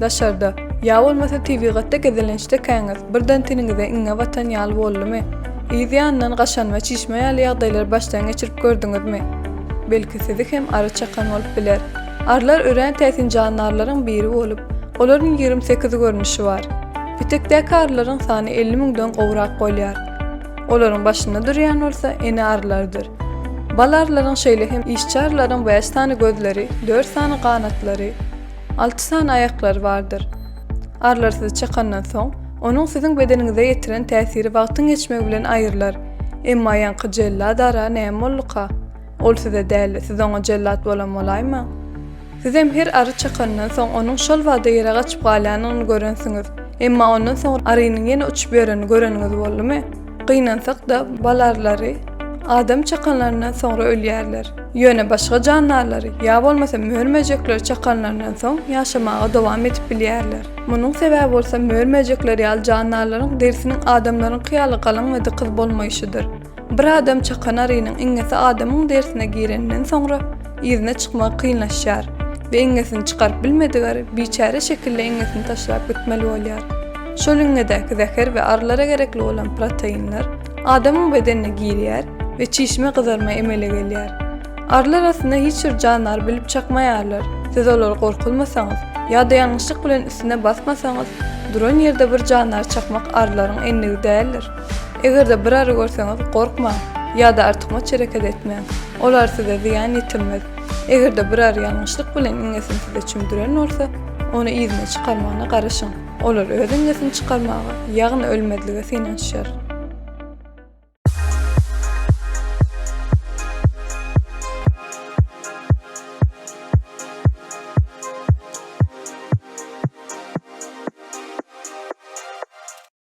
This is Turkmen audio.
Daşarda, ýa bolmasa tebigatda gezelençdekäňiz, birden teniňize iňňe batan ýaly boldumy? Yz ýanyndan gaşan we çişme ýaly ýagdaýlary başdan geçirip gördüňizmi? Belki sizi hem ary çakan bolup biler. Arylar örän täsin jandarlaryň biri bolup, olaryň ýigrimi sekiz görnüşi bar. Petekdäki arylaryň sany elli müňden gowrak bolýar. Olaryň başynda durýan bolsa ene arylardyr. Bal arylaryň şeýle hem işçi arylaryň bäş sany gözleri, dört sany ganatlary, alty sany aýaklary bardyr. Arylar sizi çakandan soň, onuň siziň bedeniňize ýetiren täsiri wagtyň geçmegi bilen aýrylar. Emma ýaňky jellad ara näme bolduka? Ol size däl, siz oňa jellat bolan bolaýmaň. Sizem her ary çakanyndan soň onuň şol wagda ýere gaçyp galýanyny görensiňiz. Emma ondan soňra arynyň ýene uçup ýörenini göreniňiz boldumy? Gynansak-da, bal arylary adam çakanlaryndan soňra ölýärler. Ýöne başga jandarlary ýa bolmasa mör-möjekleri çakanlaryndan soň ýaşamaga dowam edip bilýärler. Munuň sebäbi bolsa mör-möjekler ýaly jandarlaryň derisiniň adamlaryňky ýaly galyň we dykyz bolmaýşydyr. Bir adam çakan arynyň iňňesi adamyň derisine gireninden soňra, yzyna çykmagy kynlaşýar we iňňesini çykaryp bilmedik ary biçäre şekilde iňňesini taşlap gitmeli bolýar. Şol iňňedäki zäher we arylara gerekli bolan proteinler adamyň bedenine girýär we çişme gyzarma emele gelýär. Arylar aslynda hiç bir jandary bilip çakmaýarlar, siz olary gorkuzmasaňyz ýa-da ýalňyşlyk bilen üstüne basmasaňyz, duran ýerde bir jandary çakmak arylaryň endigi däldir. Eger-de bir ary görseňiz, gorkmaň ýa-da artykmaç hereket etmäň. Ol ary size zyýan ýetirmez. Eger-de bir ary ýalňyşlyk bilen iňňesini size çümdüren bolsa, ony yzyna çykarmagyna garaşyň. Olar öz iňňesini çykarmaga, ýagny ölmezlige synanyşar.